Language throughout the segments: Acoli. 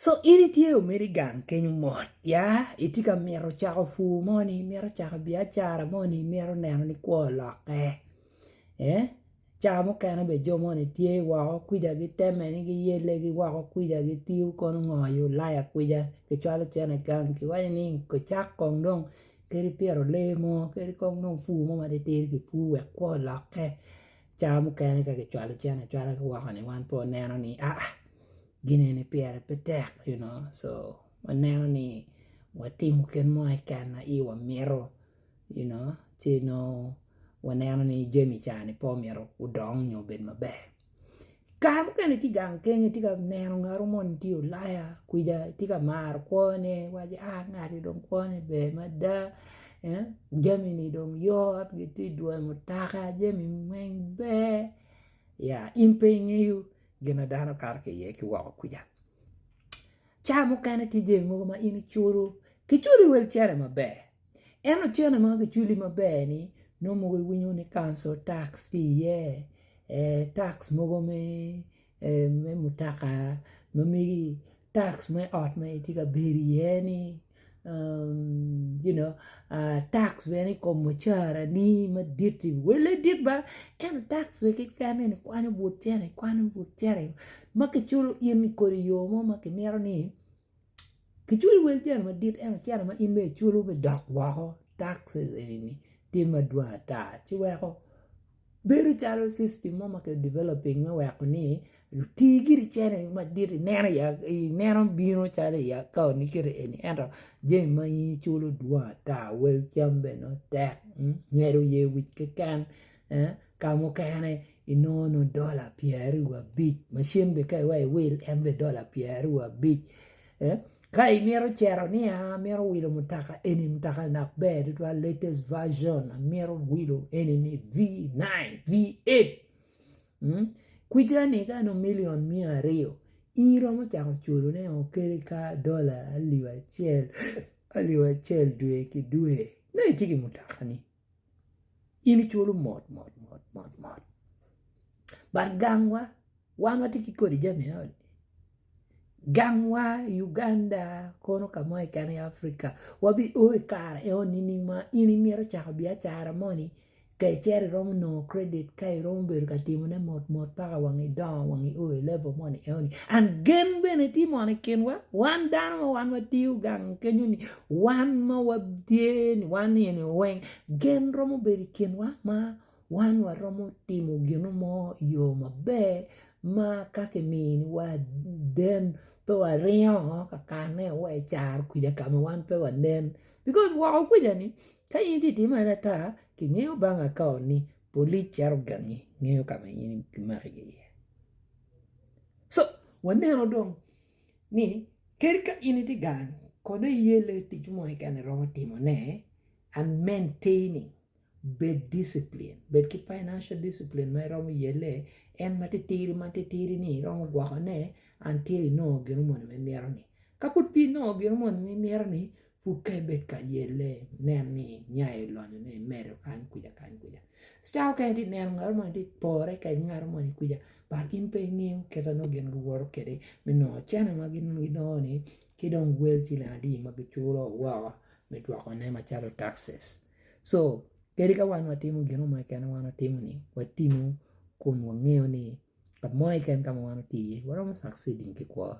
Co in itye omedo i gang kenyo mot ya itye ka mito cako pur mo ni imito cako biacara mo ni imito neno ni kwo olokke cawa mukene bene jo moni tye woko kwija giteme ni giyelle ki woko kwija gitiyo kono ngo i ulaya kwija kicwalo cene i gang kiwaco ni kicak kong dong kadi pito lee mo kadi kong dong pur mo matitidi kipur wek kwo olokke cawa mukene ka kicwalo cene acwala ki woko ni wan pe waneno ni aa gine ni pire pe tek you know so waneno ni watimo kit mo keken ma iwa mito you know ci nongo waneno ni jami ca ni pe omyero odong nyo obed maber kare mukene itye gang kenyo itye ka neno ngato mo ni tye ulaya kwica itye ka maro kwone iwaco a ngati dong kwone ber mada jami ni dong yot gitye dwoyo mutoka jami weng ber ya in pe ingeyo. gin ma dano kato ki iye ki woko kwica cawa mukene tye jami mogo ma in iculo kiculi wel cene maber ento cene ma kiculi maber ni nongo mogo iwinyo ni kauncal tax tye iye tax mogo me mutoka ma megi. tax me ot ma itye ka bedo iye ni you know tax bene i kom mucara ni madit ni wele dit ba ento tax bene keken ni kwanyo but cene ikwanyo but cene ma kiculo in kodi i yo mo ma kimito ni kiculo wel cene madit ento cene ma in bene iculo bene dok woko taxes eni ni tye madwong ata ci weko Bedo calo system mo ma ki developing me weko ni luti giri cene madit ineno i ineno bino calo i account ni kiti eni ento jami ma in iculo dwong ata wel cam bene nongo tek ngedo oye wic keken ka mukene inongo nongo dola pyeraryo wa abic macin bene ka iwecci iwil en bene dola pyeraryo wa abic Ka imito cero ni amito wilo mutoka eni mutoka dok ber tutwal latest version amito wilo eni ni V9, V8 kwija-ni ka nongo million miya aryo iromo cako culo ne o kadi ka dola alip acel alip acel dwe ki dwe nongo itye ki mutoka-ni in icwalo mot mot mot mot mot but gangwa wan watye ki kodi jami eno ni gangwa i Uganda kono ka mo keken i Africa wabi o i kare eno nining ma in imito cako biacara mo ni ka icito iromo nongo credit ka iromo bedo ka timone mot mot paka wang idongo wang i o i level moni eno ni and gen bene tye mono i kinwa wan dano ma wan watiyo gang kenyo ni Wan ma watye ni wan eni weng gen romo bedo i kinwa ma wan waromo timo gino mo i yo maber ma ka kimiwa den pe waringo ka kane wa i caro kwija ka ma wan pe wanen bikos woko kwija ni ka in itye ka timo aye ata kingeyo bang aka ni polic cito gangi ngeyo ka ma in kimaki iye so waneno dong. ni kadi ka in itye gang kono iye lee ticci mo keken iromo timone and maintaining bed discipline bed ki financial discipline ma iromo yelle en ma titiri ma titiri ni iromo gwokone until inongo gin moni ma imito ni kapud pe inongo gin moni ma imito ni Pud ka ibed ka yelle, nen ni nya i lonyo ne i medo kany kwica kany kwica. Caa okene iti neno ngato moni iti pore kede ngato moni kwica but in pe ingeyo kit anongo gin giwoto kede me nongo cene ma gin ginongo ni ki dong wel ciling adi ma giculo woko me dwoko ne macalo taxes. So kadi ka wan watimo gino mo keken ma wan watimo ni watimo kun wangeyo ni kamo keken ka ma wan wati iye waromo succeeding ki kwo.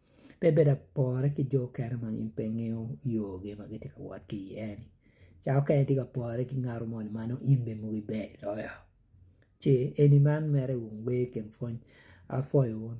pe bedo apore ki jo okene ma gin pe ngeyo yo gi ma gitye ka wot ki iye ni ca okene itye ka pore ki ngat moni ma nongo in bene mogo iber loyo ce eni man mere wer ikin pwony apwoyo wun